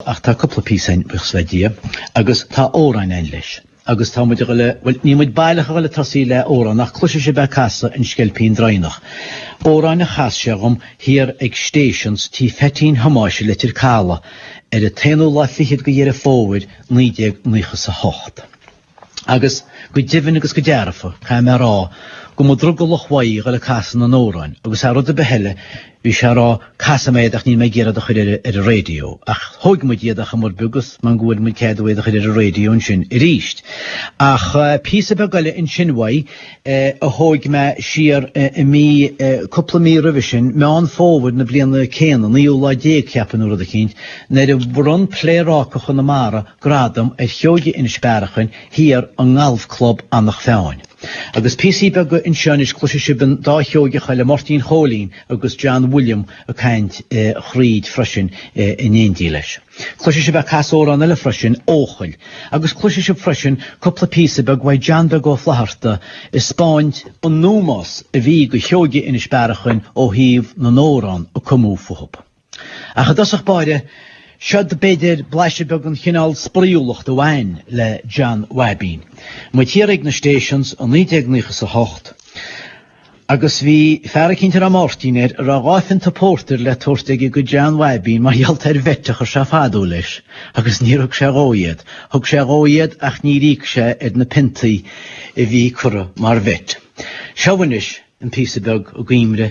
Ach tá cúpla píosa ann buíochas le Dia agus tá amhráin ann leis. Agus tá muid a dhul a, bhuel, níl muid baileach a dhul ag tosaí le amhrán ach cloisfidh sibh é ag casadh An Sceilpín Droighneach. Amhrán a chas sé dhom thiar ag Stations Tí Pheaitín Thomáis i Leitir Calaidh ar an t-aonú lá fichead de Dheireadh Fómhair, naoi déag naocha 's a hocht. Agus go deimhin agus go dearfa, caithfidh mé a rá, go mba drogallach uaidh a dhul ag casadh na n-amhráin, agus thar rud ar bith eile, bhí sé ag rá, Casfaidh mé iad ach níl mé ag iarraidh iad a chur ar an raidió. Ach thóig muid iad ar chuma ar bith agus mar go bhfuair muid cead uaidh iad a chur ar an raidió ansin arís. Ach píosa beag eile ansin uaidh a thóig mé siar i mí, cúpla mí roimhe sin, Meán Fómhair na bliana céanna, naoú lá déag, cheapfainn nó rud eicínt, nuair a bhronn Pléaráca Chonamara, gradam ar Sheoigí Inis Bearachain thiar i nGalf Club Eanach Mheáin. Agus píosaí beaga anseo anois cloisfidh sibh an dá Sheoigeach eile Máirtín Chóilín agus John William ag caint thríd freisin in éindí leis. Cloisfidh sibh é a' casadh amhrán eile freisin, Eochaill. Agus cloisfidh sibh freisin cúpla píosa beag uaidh John Beag Ó Flatharta ag 'speáint an ómós a bhí go Sheoigí Inis Bearachain ó thaobh na n-amhrán a cumadh fúthu. Ach i dtosach báire, siod b'fhéidir blaiseadh beag den chineál spraíúlacht a bhain le John Bhabín. Muid thiar ag na Stations i 1998 agus bhí fear eicínt a raibh Máirtín air a raibh dhá phionta pórtair le tabhairt aige go John Bhabín mar gheall ar bheit a chuir sé fadó leis agus níor thug sé dhó iad. Thug sé dhó iad ach níor íoc sé ar na piontaí a bhí curtha mar bheit. Seo anois an píosa beag i gcuimhne